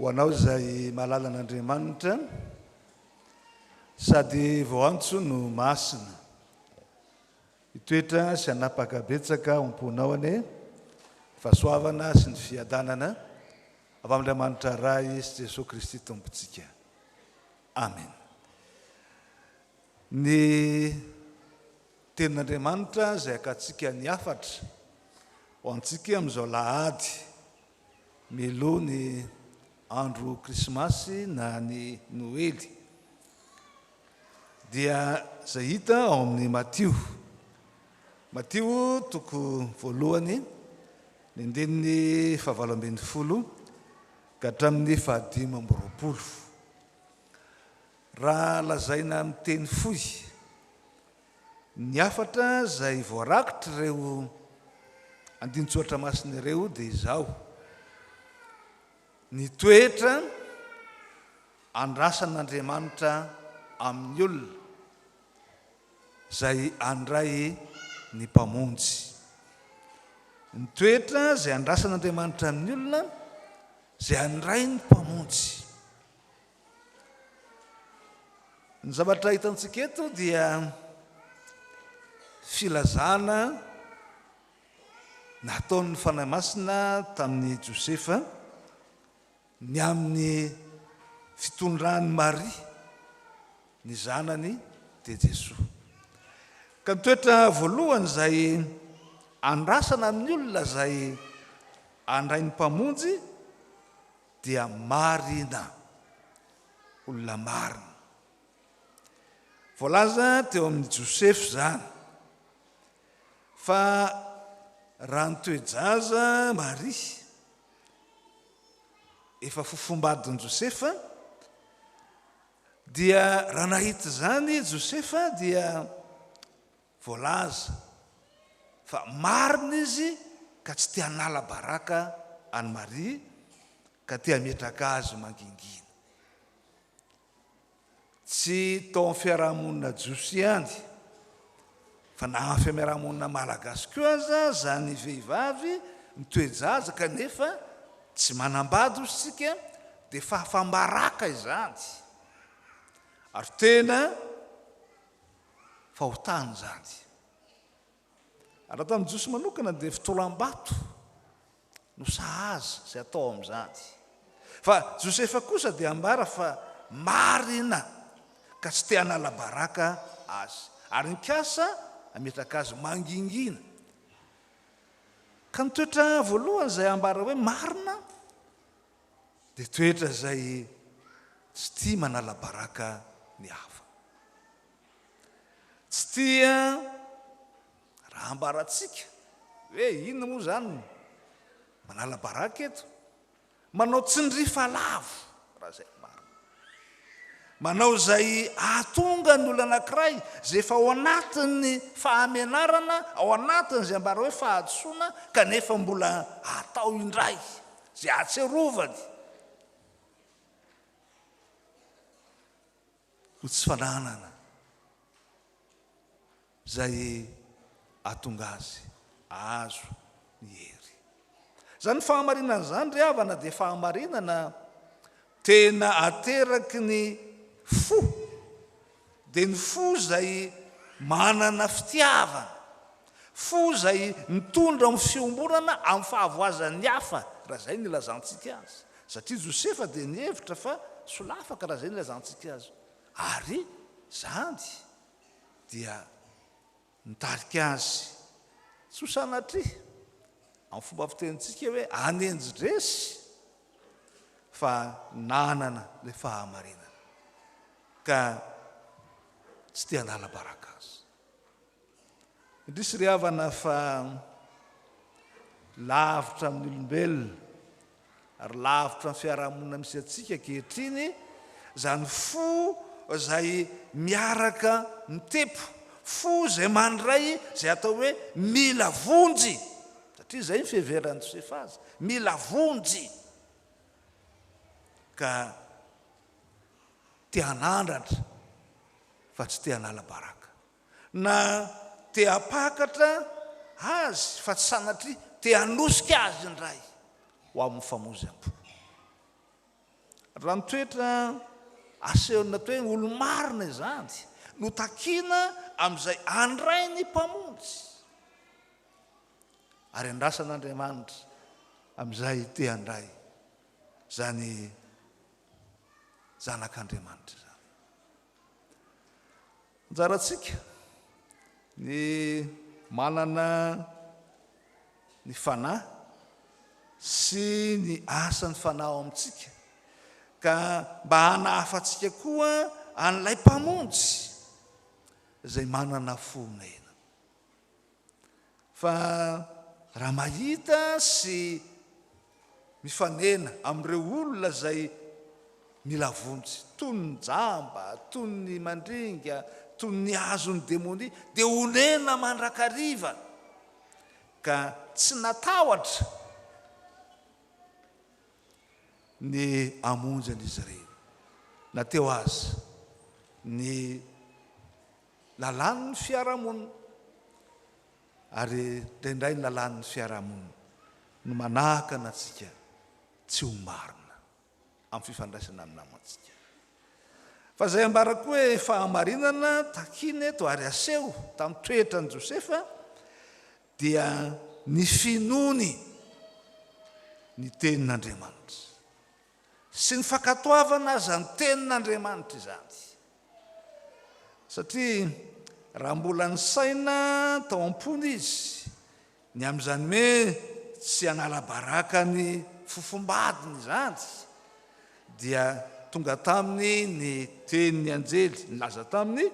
Ho anao izay malala an'Andriamanitra sady vao antso no masina. Hitoetra sy hanapaka betsaka ao am-ponao anie ny fahasoavana sy ny fiadanana Avy amin'Andriamanitra Ray sy Jesoa Kristy Tompontsika. Amen. Ny tenin'Andriamanitra izay akantsika ny hafatra ho antsika amin'izao lahady miloha ny andro krismasy na ny noely dia izay hita ao amin'ny Matio Matio toko voalohany, ny andininy fahavalo ambin'ny folo ka hatramin'ny fahadimy amby roapolo. Raha lazaina amin'ny teny fohy, ny hafatra izay voarakotr'ireo andinin-tsoratra masina ireo dia izao, Ny toetra andrasan'Andriamanitra amin'ny olona. izay handray ny Mpamonjy. Ny toetra izay andrasan'Andriamanitra amin'ny olona izay handray ny Mpamonjy. Ny zavatra hitantsika eto dia filazana nataon'ny Fanahy Masina tamin'i Josefa, Ny amin'ny fitondran'i Maria ny zanany dia Jesoa. Ka ny toetra voalohany izay andrasana amin'ny olona izay handray ny Mpamonjy dia marina, olona marina. Voalaza teo amin'i Josefa izany fa raha ny toe-jaza Maria, efa fofombadin'i Josefa, dia raha nahita izany Josefa dia voalaza fa marina izy ka tsy te hanala baraka an'i Maria ka te hametraka azy mangingina. Tsy tao amin'ny fiarahamonina jiosy ihany, fa na amin'ny fiamerahamonina malagasy koa aza, izany vehivavy mitoe-jaza kanefa tsy manambady, hoy isika, dia fahafam-baraka izany, ary tena fahotana izany. Raha tamin'ny Jiosy manokana dia fitolam-bato no sahaza izay atao amin'izany. Fa Josefa kosa dia ambara fa marina ka tsy te hanala baraka azy ary nikasa hametraka azy mangingina. Ka ny toetra voalohany izay ambara hoe marina dia toetra izay tsy tia manala baraka ny hafa. Tsy tia raha ambarantsika hoe inona moa izany no manala-baraka eto. Manao tsindry fa lavo, raha izay no marina. Manao izay hahatonga ny olona anankiray izay efa ao anatin'ny fahamenarana, ao anatin'izay ambara hoe fahadisoana, kanefa mbola hatao indray izay ahatsiarovany. ho tsy fananana izay hahatonga azy hahazo ny hery. Izany fahamarinana izany ry havana dia fahamarinana tena ateraky ny fo, dia ny fo izay manana fitiavana. Fo izay mitondra amin'ny fiombonana amin'ny fahavoazan'ny hafa, raha izay no ilazantsika azy. Satria Josefa dia nihevitra fa solafaka, raha izay no ilazantsika azy. Ary izany dia nitarika azy, tsy ho sanatria, amin'ny fomba fitenintsika hoe hanenjy resy, fa nanana ilay fahamarinana, ka tsy te hanala baraka azy. Indrisy ry havana fa lavitra amin'ny olombelona ary lavitra ny fiarahamonina misy antsika ankehitriny izany fo izay miaraka mitepo, fo izay mandray izay atao hoe mila vonjy, satria izay ny fiheveran'i Josefa azy, mila vonjy, ka te hanandratra fa tsy te hanala baraka. Na te hampakatra azy fa tsy sanatria, te hanosika azy indray ho amin'ny famoizam-po. Raha ny toetra asehon'ny atao hoe olo-marina izany no takiana amin'izay handray ny Mpamonjy, ary andrasan'Andriamanitra amin'izay te handray izany Zanak'Andriamanitra izany. Anjarantsika ny manana ny Fanahy sy ny asan'ny Fanahy ao amintsika, ka mba hanahafantsika koa an'ilay Mpamonjy izay manana fo omena. Fa raha mahita sy mifanena amin'ireo olona izay mila vonjy, toy ny jamba, toy ny mandringa, toy ny azon'ny demonia, dia onena mandrakariva, ka tsy natahotra ny hamonjy an'izy ireny, na teo aza ny Lalàn' ny fiarahamonina, ary dia indray ny lalàn' ny fiarahamonina no manakana antsika tsy ho marina amin'ny fifandraisana amin'ny namantsika. Fa izay ambara koa hoe fahamarinana takiana eto ary aseho tamin'ny toetran' i Josefa dia ny finoany ny tenin' Andriamanitra. sy ny fankatoavana aza ny tenin'Andriamanitra izany. Satria raha mbola nisaina tao am-pony izy ny amin'izany hoe tsy hanala baraka ny fofombadiny izany, dia tonga taminy ny tenin'ny anjely nilaza taminy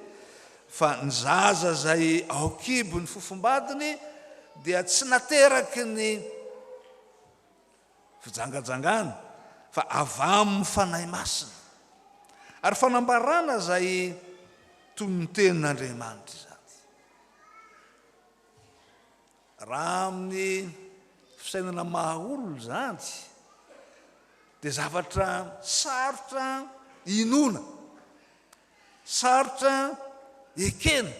fa ny zaza izay ao an-kibon'ny fofombadiny dia tsy nateraky ny. fijangajangana fa avy amin'ny Fanahy Masina ary fanambarana izay toy ny tenin'Andriamanitra izany. Raha amin'ny fisainana maha olona izany dia zavatra sarotra inoana, sarotra ekena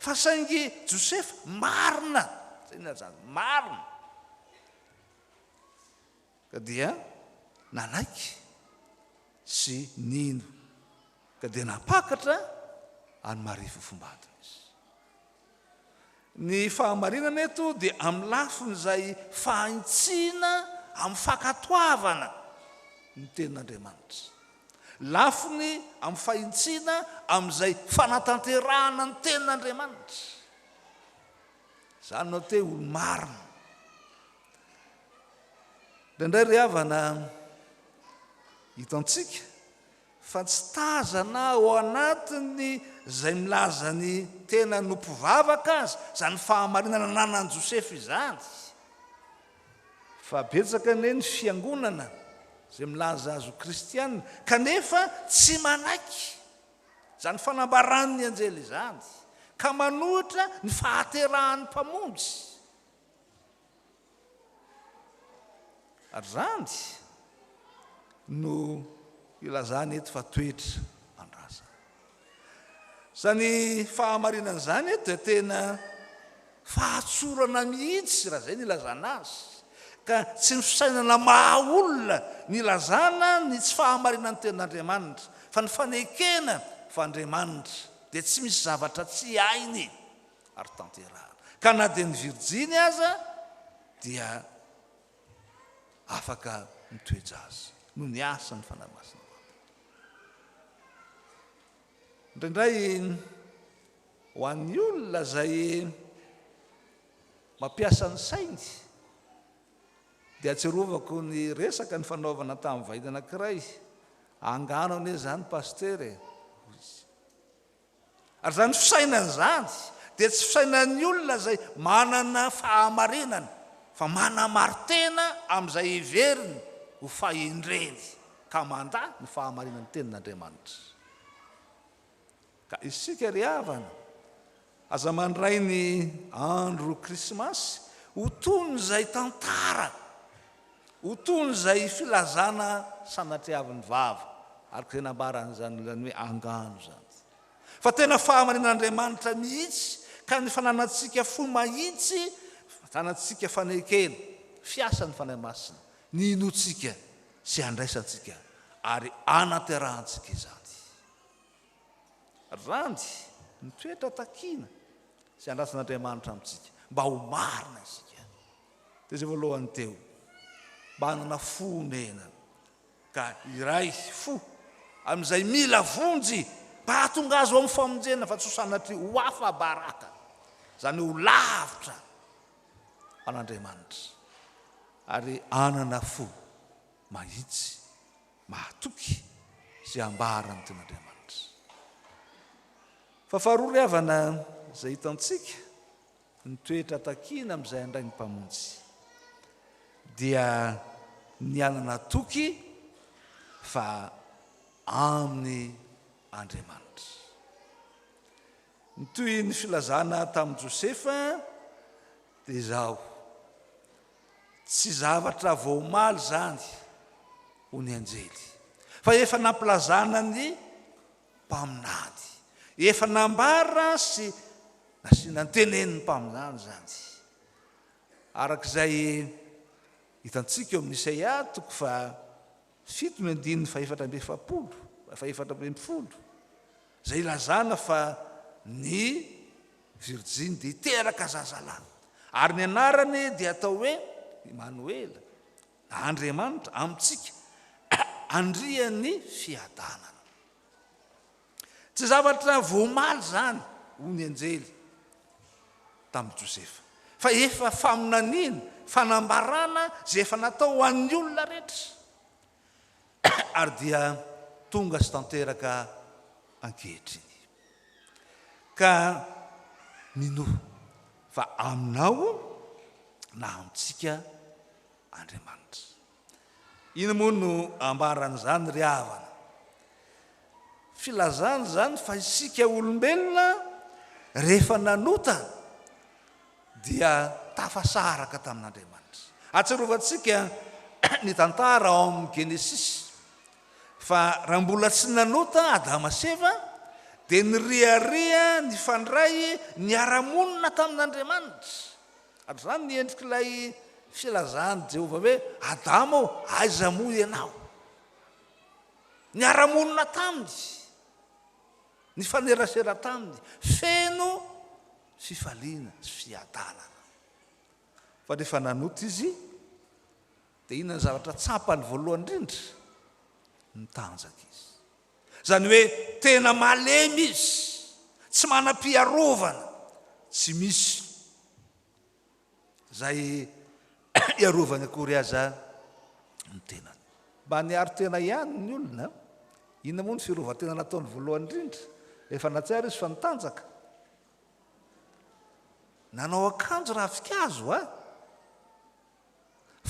fa saingy Josefa marina, zay ny azy zany, marina. ka dia nanaiky sy nino, ka dia nampakatra an'i Maria Fofombadona izy. Ny fahamarinana eto dia amin'ny lafin'izay fahintsiana amin'ny fankatoavana ny tenin'Andriamanitra, lafiny amin'ny fahintsiana amin'izay fanatanterahana ny tenin'Andriamanitra. Zany no atao hoe olo marina. Indraindray ry havana hitantsika fa tsy tazana ao anatin'ny izay milaza ny tena no mpivavaka aza izany fahamarinana ananan'i Josefa izany. Fa betsaka anie ny fiangonana izay milaza azy ho kristiana kanefa tsy manaiky izany fanambaran' ny anjely izany, ka manohitra ny fahaterahan' ny Mpamonjy, ary izany no ilazany eto fa toetra mandrazana. Izany fahamarinan' izany eto dia tena. Fahatsorana mihitsy raha izay no ilazana azy, ka tsy ny fisainana maha olona no ilazana ny tsy fahamarinan'ny tenin'Andriamanitra, fa ny fanekena fa Andriamanitra dia tsy misy zavatra tsy hainy ary tanterahana, ka na dia ny virjiny aza dia afaka mitoe-jaza noho ny asan'ny Fanahy Masina. Indraindray. Ho an'ny olona izay mampiasa ny sainy dia atsiarovako ny resaka nifanaovana tamin'ny vahiny anankiray, angano anie izany Pasitera e, hoy izy. Ary izany fisainana izany dia tsy fisainan'ny olona izay manana fahamarinana fa manamari-tena amin'izay heveriny ho fahendreny ka mandà ny fahamarinan'ny Tenin'Andriamanitra. Ka isika ry havana, aza mandray ny andro Krismasy ho toy ny izay tantara, ho toy ny izay filazana sanatriavin'ny vava, araka izay nambarany izany olona hoe angano izany, fa tena fahamarinan'Andriamanitra mihitsy, ka ny fananantsika fo mahitsy, fananantsika fanekena, fiasan'ny Fanahy Masina, ny hinoantsika sy handraisantsika ary hanaterahantsika izany. Randy, ny toetra takiana sy andrasan'Andriamanitra amintsika mba ho marina isika dia izay voalohany teo, mba hanana fo omena ka hiray fo amin'izay mila vonjy mba hahatonga azy ho amin'ny famonjena fa tsy ho sanatria ho afa-baraka, izany hoe ho lavitra an'Andriamanitra ary hanana fo mahitsy. Mahatoky izay ambara ny Tenin'Andriamanitra. Fa faharoa ry havana, izay hitantsika, ny toetra takiana amin'izay handray ny Mpamonjy, dia ny hanana toky fa amin' Andriamanitra. Ny toy ny filazana tamin'i Josefa dia izao, Tsy zavatra vao omaly izany, hoy ny anjely, fa efa nampilazana ny mpaminany, efa nambara sy nasiana ny tenenin'ny mpaminany izany. Araka izay hitantsika eo amin'ny Isaia, toko faha. Fito ny andininy fahefatra amby efapolo, fahefatra ambin'ny folo, izay ilazana fa ny virjiny dia hiteraka zazalahy, ary ny anarany dia hatao hoe Imanoela, na Andriamanitra amintsika, Andrian'ny fiadanana. Tsy zavatra vao omaly izany, hoy ny anjely tamin'i Josefa, fa efa faminaniana, fanambarana izay efa natao ho an'ny olona rehetra, ary dia tonga sy tanteraka ankehitriny. Ka minoa fa aminao na amintsika Andriamanitra. Ino moa no ambaran'izany ry havana? Filazana izany fa isika olombelona rehefa nanota dia tafasaraka tamin'Andriamanitra. Atsirovantsika ny tantara ao amin'ny Genesisy fa raha mbola tsy nanota Adama sy Eva dia niriaria nifandray niara-monina tamin'Andriamanitra. Ary izany ny endrik'ilay filazan'i Jehovah hoe, Adama ô, aiza moa ianao? Niara-monina taminy, nifanerasera taminy, feno fifaliana sy fiadanana. Fa rehefa nanota izy, dia inona ny zavatra tsapany voalohany indrindra? Nitanjaka izy. Izany hoe tena malemy izy, tsy manam-piarovana, tsy misy izay iarovany akory aza ny tenany. Mba niaro tena ihany ny olona. Inona moa ny fiarovan-tena nataony voalohany indrindra? Efa nahatsiaro izy fa nitanjaka. Nanao akanjo ravinkazo, a!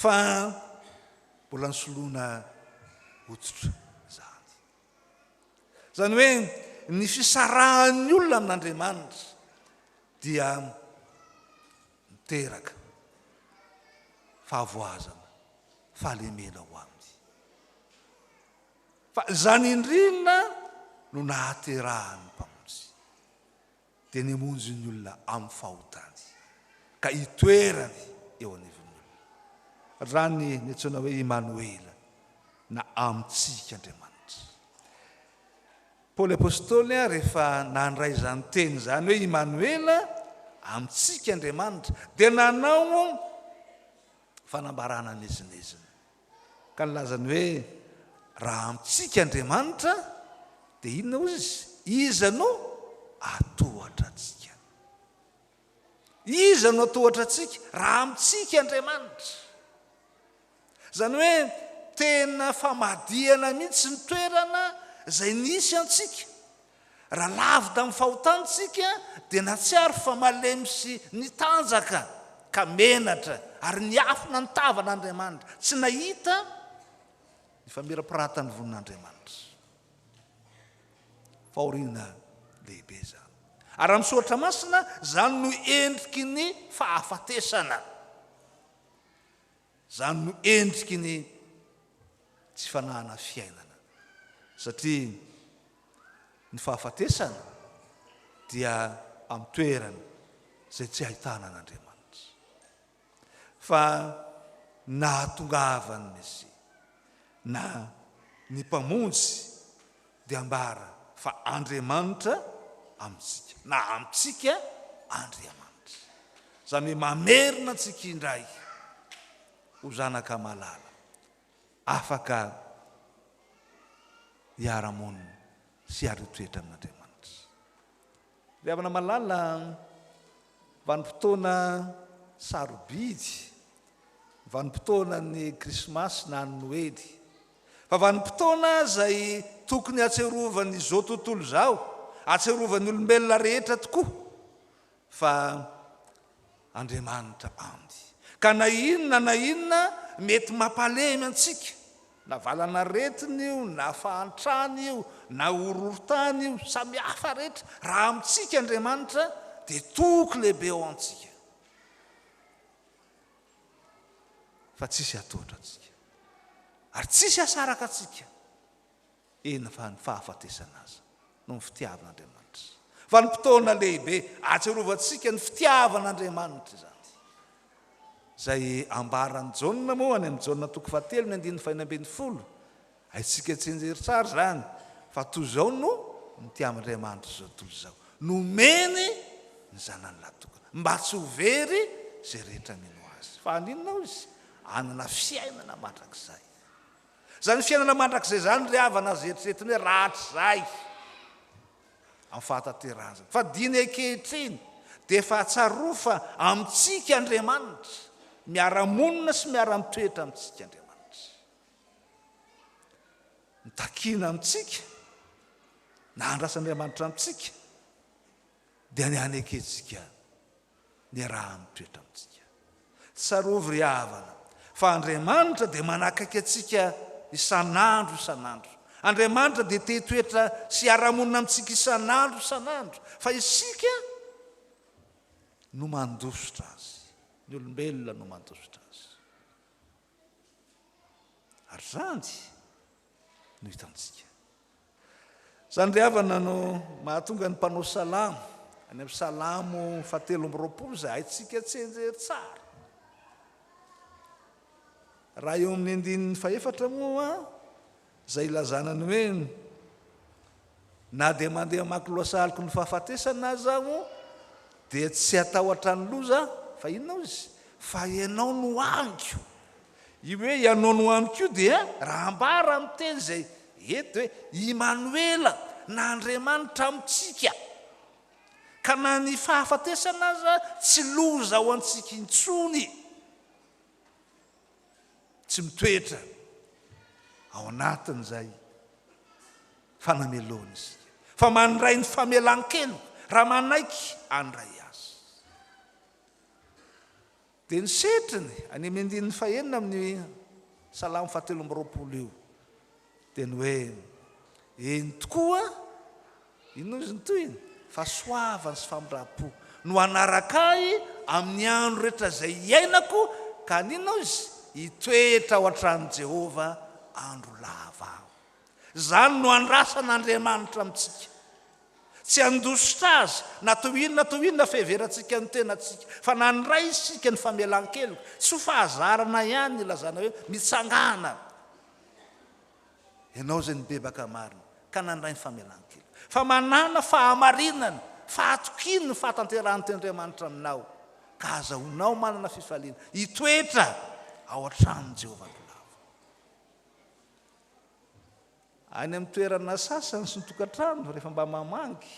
fa mbola nisoloana hoditra izany. Izany hoe ny fisarahan'ny olona amin'Andriamanitra dia miteraka fahavoazana, fahalemena ho aminy. Fa izany indrina no nahaterahan'ny Mpamonjy. dia ny hamonjy ny olona amin'ny fahotany ka hitoerany eo anivon'ny olona, raha ny niantsoana hoe Imanoela, na Amintsika Andriamanitra. Paoly Apostoly rehefa nandray izany teny izany hoe Imanoela, Amintsika Andriamanitra, dia nanao fanambarana miezinezina. Ka nilazany hoe, Raha amintsika Andriamanitra, dia inona hozy izy? Iza no hatohatra antsika? Iza no hatohatra antsika raha amintsika Andriamanitra? Izany hoe tena famadihana mihitsy ny toerana izay nisy antsika. Raha lavo tamin'ny fahotany isika, dia nahatsiaro fa malemy sy nitanjaka, ka menatra ary niafina nitava an'Andriamanitra. Tsy nahita ny famirapiratan'ny vonin'Andriamanitra. Fahoriana lehibe izany. Ary amin'ny Soratra Masina, izany no endriky ny fahafatesana. Izany no endriky ny tsy fanahana fiainana. Satria Ny fahafatesana dia amin'ny toerana izay tsy ahitana an'Andriamanitra. Fa ny nahatongavan'ny Mesia na ny Mpamonjy dia ambara fa Andriamanitra amintsika, na amintsika Andriamanitra. Izany hoe mamerina antsika indray ho zanaka malala, afaka hiara-monina sy hiaro toetra amin'Andriamanitra. Ry havana malala, vanim-potoana sarobidy, vanim-potoanan'ny Krismasy na ny Noely, fa vanim-potoana izay tokony hatsiarovan'izao tontolo izao, hatsiarovan'ny olombelona rehetra tokoa. Fa Andriamanitra and. Ka na inona na inona mety mampalemy antsika, na valan'aretina io, na fahantrana io, na horohorontany io, samy hafa rehetra, raha amintsika Andriamanitra dia toky lehibe ao amintsika. Fa tsisy hatohitra antsika. Ary tsisy hasaraka antsika. Eny fa ny fahafatesana aza no ny fitiavan'Andriamanitra. Vanim-potoana lehibe ahatsiarovantsika ny fitiavan'Andriamanitra izany. Izay ambaran'i Jaona moa any amin'ny Jaona toko fahatelo ny andininy fahenina ambin'ny folo. Haintsika tsinjery tsara izany fa toy izao no nitiavan'Andriamanitra izao tontolo izao, nomeny ny Zanany lahatokana mba tsy ho very izay rehetra mino Azy. Fa haninona hoy Izy? Hanana fiainana mandrakizay. Izany fiainana mandrakizay izany ry havana aza eritreretiny hoe rahatrizay amin'ny fahatanterahana izany. Fa diny ankehitriny dia efa hatsarovy fa amintsika Andriamanitra, miara-monina sy miara-mitoetra amintsika Andriamanitra. Mitakiana amintsika na andrasan'Andriamanitra amintsika dia ny hanekentsika Miaraha-mitoetra amintsika. Tsarovy ry havana, fa Andriamanitra dia manakaiky antsika isan'andro isan'andro. Andriamanitra dia te hitoetra sy hiara-monina amintsika isan'andro isan'andro, fa isika no mandositra Azy. Ny olombelona no mandositra Azy. Ary izany no hitantsika. Izany ry havana no mahatonga ny mpanao salamo, any amin'ny salamo fahatelo amby roapolo izay haintsika tsianjery tsara. Raha eo amin'ny andininy fahefatra moa Izay ilazana ny hoe, Na dia mandeha hamaky lohasahaloko ny fahafatesana aza aho, dia tsy hatahotra ny loza aho, fa inona hoy izy, fa Ianao no amiko. Io hoe Ianao no amiko io dia, raha ambara amin'ny teny izay eto dia hoe, Imanoela, na Andriamanitra amintsika. Ka na ny fahafatesana aza tsy loza ho antsika intsony. tsy mitoetra ao anatin'izay fanamelohana isika fa mandray ny famelan-keloka raha manaiky andray azy dia ny setriny any amin'ny andininy fahenina amin'ny salamo fahatelo amby roapolo io Dia ny hoe, Eny tokoa, inona izy ny tohiny? Fahasoavana sy famindram-po no hanaraka ahy amin'ny andro rehetra izay hiainako, ka haninona hoy izy? Hitoetra ao an-tranon'i Jehovah andro lava aho. Izany no andrasan'Andriamanitra amintsika. Tsy handositra azy na toy inona na toy inona fiheverantsika ny tenantsika, fa na handray isika ny famelan-keloka. Tsy ho fahazarana ihany ny ilazana hoe mitsangàna Ianao izay nibebaka marina ka nandray ny famelan-keloka. Fa manàna fahamarinana, fahatokiana ny fahatanterahan'ny Tenin'Andriamanitra aminao, ka azahoanao manana fifaliana hitoetra ao an-tranon'i Jehovah andro lava. Any amin'ny toerana sasany sy ny tokantrano, rehefa mba mamangy,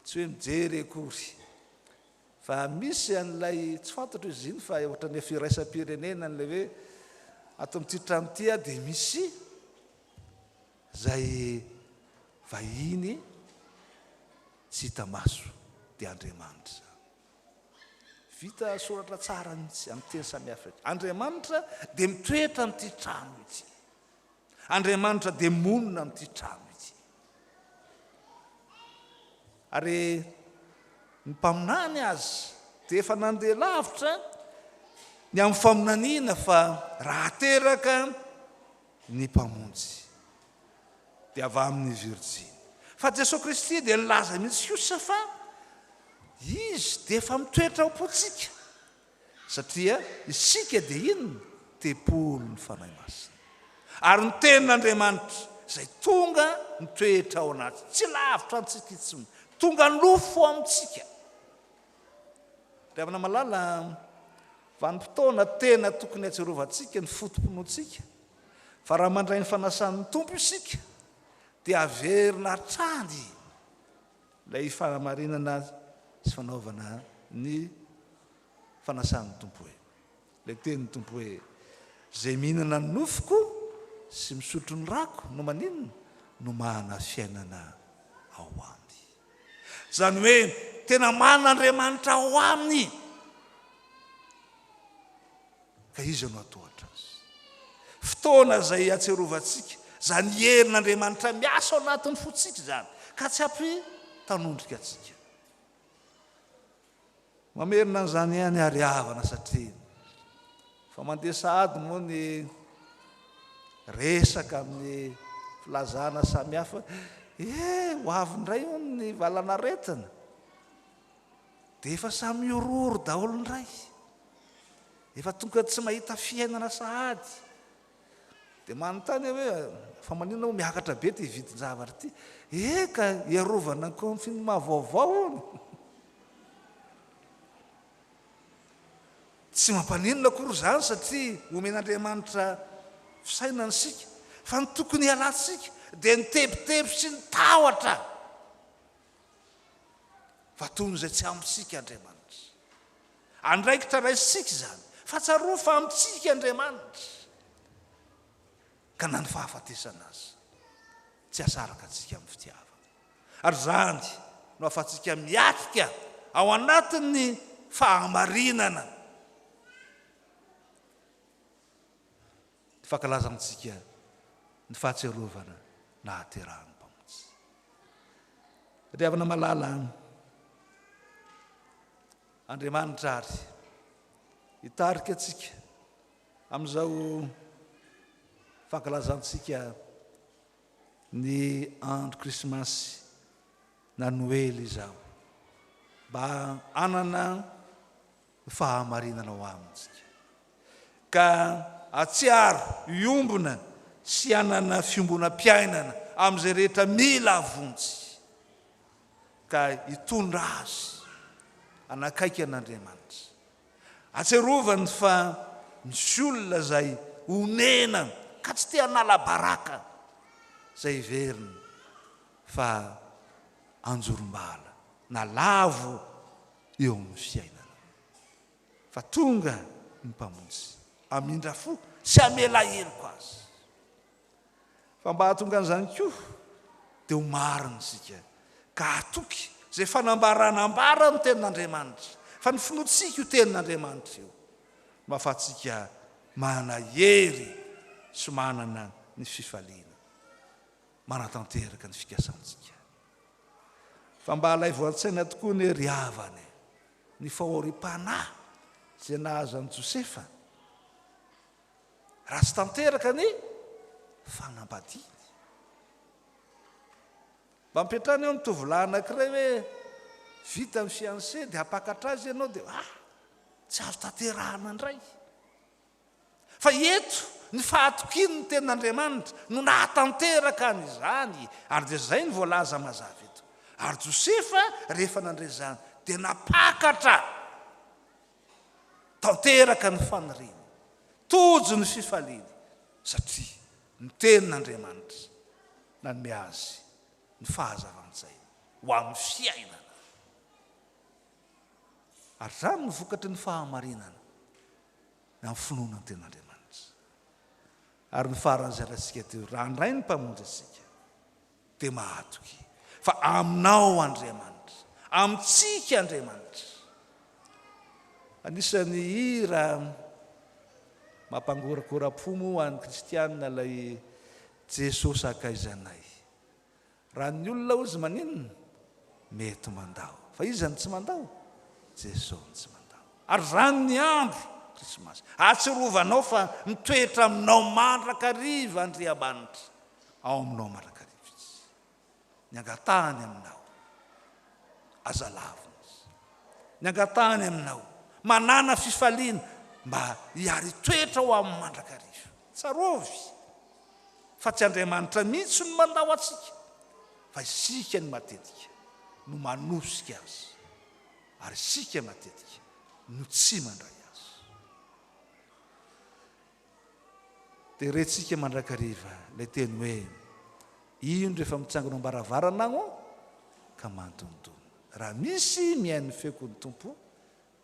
tsy hoe mijery akory, Fa misy an'ilay tsy fantatro izy iny fa ohatran'ny efa iraisam-pirenena an'ilay hoe ato amin'ity trano ity aho dia misy izay vahiny tsy hita maso dia Andriamanitra izany. Vita soratra tsara mihitsy amin'ny teny samihafa eto. Andriamanitra dia mitoetra amin'ity trano ity. Andriamanitra dia monina amin'ity trano ity. Ary ny mpaminany azy dia efa nandeha lavitra ny amin'ny faminaniana fa raha teraka ny Mpamonjy dia avy amin'ny virjiny. Fa Jesoa Kristy dia nilaza mihitsy kosa fa Izy dia efa mitoetra ao am-pontsika. Satria isika dia inona? Tempolin'ny Fanahy Masina. Ary ny Tenin'Andriamanitra, izay tonga mitoetra ao anaty, tsy lavitra antsika intsony, tonga nofo amintsika. Ry havana malala, vanim-potoana tena tokony hatsiarovantsika ny foto-pinoantsika, fa raha mandray ny fanasan'ny Tompo isika, dia haverina hatrany. Ilay fahamarinana sy fanaovana ny fanasan'ny Tompo hoe. Ilay tenin'ny Tompo hoe, Izay mihinana ny nofoko sy misotro ny rako no maninona? No manana fiainana ao Aminy. Izany hoe tena manana Andriamanitra ao aminy. Ka iza no hatohatra azy? Fotoana izay hiatserovantsika izany herin'Andriamanitra miasa ao anatin'ny fontsika izany, ka tsy hampitanondrika antsika. Mamerina an'izany ihany ary havana satria fa mandeha sahady moa ny resaka amin'ny filazana samihafa. Eh, ho avy indray hono ny valan'aretina. Dia efa samy miororo daholo indray. efa tonga tsy mahita fiainana sahady dia manontany hoe fa manina ho miakatra be ty vidin-javatra ty eka iarovana ny confinement vaovao ony tsy mampaninona akory zany satria omen'andriamanitra fisainana isika fa ny tokony hialantsika dia ny tebiteby sy ny tahotra Fa toy ny izay tsy amintsika Andriamanitra. Andraikitra raisintsika izany, fa tsarovy fa amintsika Andriamanitra. Ka na ny fahafatesana aza, tsy asaraka antsika amin'ny fitiavana. Ary izany no ahafahantsika miatrika ao anatin'ny fahamarinana. Ny fankalaza amintsika ny fahatsiarovana nahaterahan'ny Mpamonjy. Ry havana malala an! Andriamanitra àry hitarika antsika amin'izao fankalazantsika ny andro Krismasy na Noely izao mba hanana fahamarinana ho amintsika, ka hatsiaro hiombona sy hanana fiombonam-piainana amin'izay rehetra mila vonjy, ka hitondra azy hanakaiky an'Andriamanitra. Atsiarovany fa misy olona izay onena ka tsy te hanala baraka izay heveriny fa anjorom-bala na lavo eo amin'ny fiainana. Fa tonga ny Mpamonjy hamindra fo sy hamela heloka azy. Fa mba hahatonga an'izany koa dia ho marina isika ka hatoky izay fanambarana ambara amin'ny Tenin'Andriamanitra fa ny finoantsika io Tenin'Andriamanitra io no hahafahantsika manana hery sy manana ny fifaliana manatanteraka ny fikasantsika. Fa mba alaivo an-tsaina tokoa anie ry havana e, ny fahoriam-panahy izay nahazo an'i Josefa raha tsy tanteraka ny fanambadiany. Mba ampiantrano eo ny tovolahy anankiray hoe vita ny fiancé dia hampakatra azy ianao dia ah, tsy azo tanterahana indray. Fa eto, ny fahatokian' ny tenin' Andriamanitra no nahatanteraka an' izany, ary dia izay no voalaza mazava eto. Ary Josefa, rehefa nandre izany, dia napakatra tanteraka ny faniriany, tojo ny fifaliany, satria ny tenin' Andriamanitra nanome azy ny fahazavan-tsaina ho amin' ny fiainana. Ary izany no vokatry ny fahamarinana. ny amin'ny finoana ny Tenin'Andriamanitra. Ary ny faran'ny zaratsika teo, raha handray ny Mpamonjy antsika, dia mahatoky fa Aminao Andriamanitra, amintsika Andriamanitra. Anisan'ny hira mampangoragora-po moa ho an'ny kristiana ilay Jesosy Akaizanay. Raha ny olona ozy maninona? Mety mandao. Fa iza no tsy mandao? Jeso no tsy mandao. Ary izany ny andro, Krismasy. Ahatsirovanao fa mitoetra aminao mandrakariva Andriamanitra. Ao aminao mandrakariva Izy. Ny angatahany aminao, aza lavina Izy. Ny angatahany aminao, manàna fifaliana mba hiari-toetra ao Aminy mandrakariva. Tsarovy fa tsy Andriamanitra mihitsy no mandao antsika fa isika no matetika no manosika Azy ary isika matetika no tsy mandray Azy. Dia rentsika mandrakariva ilay teny hoe, Indro efa mitsangona am-baravarana aho ka mandontona. Raha misy mihaino ny feoko ny Tompo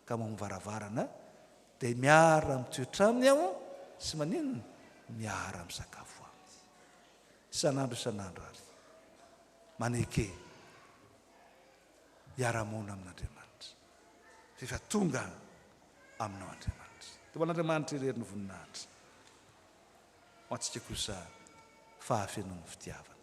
ka ao amin'ny varavarana dia miara mitoetra aminy aho sy maninona miara misakafo aminy isan'andro isan'andro ary maneke hiara-monina amin'Andriamanitra rehefa tonga aminao Andriamanitra dia an'Andriamanitra irery ny voninahitra ho antsika kosa fahafenoan'ny fitiavana